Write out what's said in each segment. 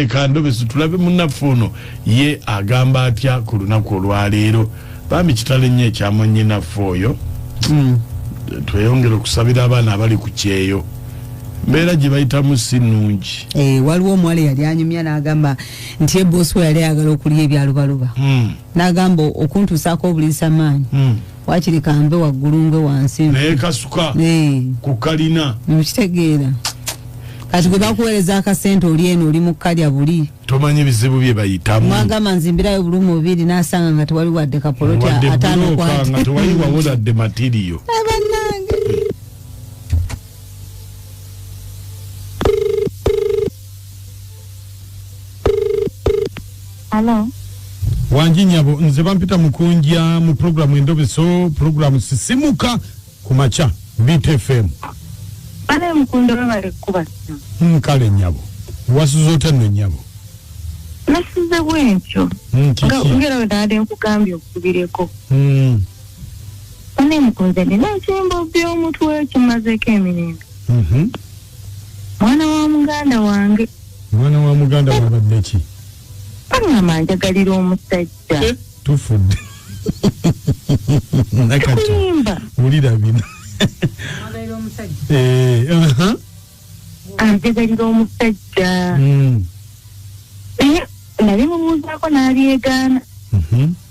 ekandobesi tulabe munaffe ono ye agamba atya ku lunaku olwaleero bambi kitale nnyo ekyamwanyinaffe oyo hmm. tweyongere okusabira abaana abali ku kyeyo mbeera gye bayitamu si nnungi eh, waliwo omuwala eyali anyumya n'agamba nti eboosi we yali ayagala okulya ebyalubaluba hmm. n'agamba okuntuusaako obulisa maanyi hmm. wakiri kambe waggulu nge wansi naye kasuka eh. ku kalina mukitegeera kati gwe bakuweereza akasente oli eno oli mu kalya buli tomanyi bizibu bye bayitamu mwagamba nzimbirayo buli mubiri nasanga nga tewali wadde kapoloti atanokwatnga tewali wawoladde matiriyo Hello. wangi nyabo nze bampita mukunja mu pulogulaamu endobeso pulogulaamu sisimuka ku makya btfm Bale mukunda webale kukuba simu. Mm, kale nyabo wasuza otya nno nyabo Nasize bwentyo. Mm, Nga kiki ngera we naade nkugambye okubireko. Mm, Bale mukunze nina ekyimbo by'omutwe kimazeeko emirembe. mhm. mwana wa muganda wange mwana wa muganda wabadde ki aŋama njagalira omusajja eh, tufudde nakatoyimba wulira bino anjagalira omusajja naye mubuuzaako n'abyegaana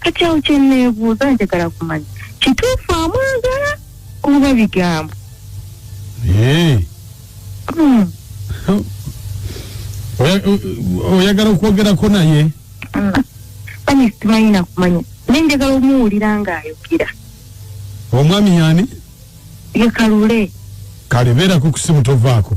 kati awo kyeneebuuza njagala kumanya kituufu amwagala oba bigambo eh. hmm. oyagala okwogerako naye hmm. kanye simanyi nakumanya naye njagala omuwulira ng'ayogera omwami yani yekalule kale beerako kusimu tovaako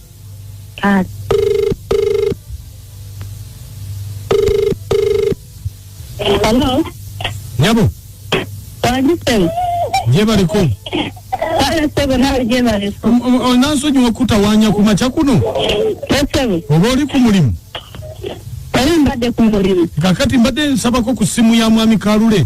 Taata. Hello. nyabo Wajise. gyebaliko Wala sebo nawe je bali. onansonyiwa kutawanya ku makya kuno Sebo. oba oli ku mulimu Wali mbadde ku mulimu. kakati mbadde nsabako ku ssimu ya mwami kalule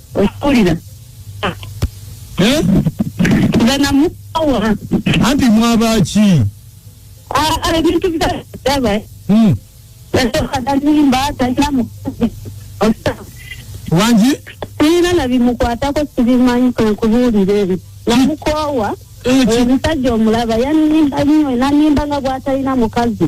okulira Eh? nga namukawa anti mwabaaki Ah, ebintu byadaba Hmm. alimba talina mukazi wangi sirina nabimukwatako sibimanyi kwenkubuulira ebyo namukoowa Eh, ki- omusajja omulaba yanimba nyo nanimba nga bwatalina mukazi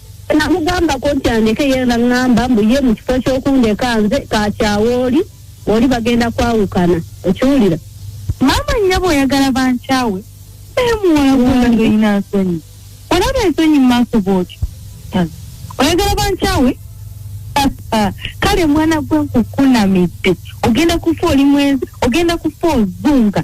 namugambako nti andeke ye naŋŋamba mbu ye mu kifo ky'okundeka nze kakyawa oli oli bagenda kwawukana okiwulira maama nnyabo oyagala bankyawe naye muwala gwona ng'olina nsonyi olaba ensonyi mu maaso bwotyo oyagala bankyawe kale mwana gwe nkukunamidde ogenda kufa oli mwenzi ogenda kufa ozunga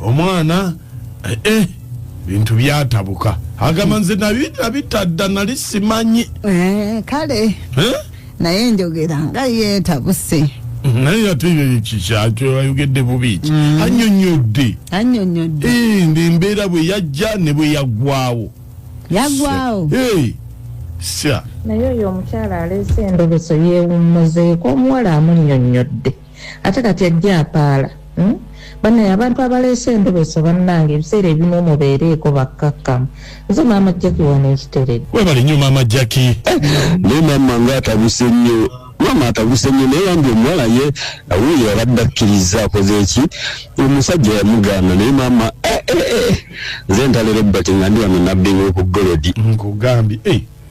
omwana eh, eh bintu byatabuka agamba nze nabitadda nali simanyi eh, kale eh? naye njogera nga yetabuse naye ate kikyakyo ayogedde bubi ki mm. anyonyodde anyonyodde eh, ndi embeera bwe yajja ne bwe yaggwawo yaggwawo naye oyo omukyala aleese endobeso yeewummuzeeko omuwala amunyonyodde ate kati ajja apaala hmm? banaye abantu abaleese endobeso bannange ebiseera ebimu mubeereeko bakkakkamu nze maama jaki wano ekiteredde webale nnyo maama jaki eh, naye maama nga atabuse nnyo maama atabuse nnyo naye yambi omuwala ye awuyo abadde akkiriza akoze eki omusajja yamugaana naye maama eh, eh, nze ntalera ebbati nga ndi wano nabbinga okugolodi nkugambye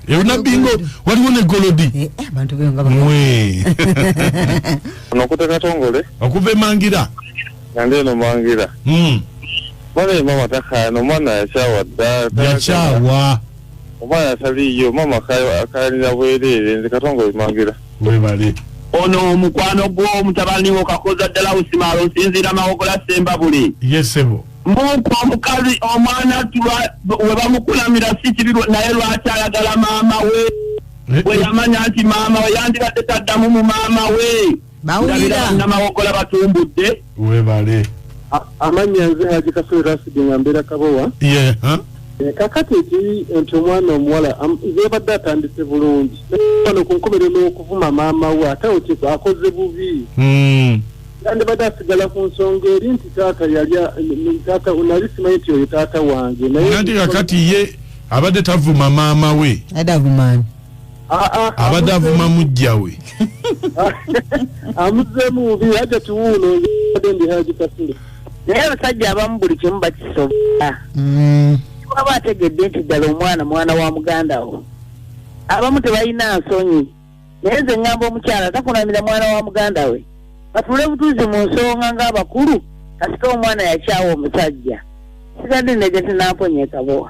ebinabingo waliwo ne golodi eh, eh, abantu byo nga bamwe nokuta katongole okuva emangira nande no mangira mm bale mama taka no mwana ya chawa da ya chawa mama ya sali yo mama kayo akali na bwelele nze katongole mangira we bale ono omukwano gwo mutabani wo kakoza dala usimalo sinzira mawokola semba buli yesebo Muku omukazi omwana tuba webamukulamira si kibi naye lwaki ayagala maama we eh, bwe eh. yamanya nti maama we yandibadde taddamu mu maama we bawuliranabawogola batumbudde webale amannya nze haji kasole rasidi nga mbeera kabowa eh, kakati eki nti omwana omuwala yabadde atandise bulungi ano ku nkomero n'okuvuma maama we ate akoze bubi hmm. yandibadde asigala ku nsonga eri nti taata yalya taata nali simanyi nti oyo taata wange nayenanti kakati ye abadde tavuma maama we adavumani abadde avuma mujja we amuzeemu bubi aja tiwuuno ade ndi haji kasule naye abasajja abamu buli kimu bakisobola mm. waba ategedde nti ddala omwana mwana wa muganda wo abamu tebalina nsonyi naye nze ŋŋamba omukyala takunamira mwana wa muganda we batuule butuuzi mu nsonga ng'abakulu kasita omwana yakyawa omusajja sigadde nege tinamponya ekabowa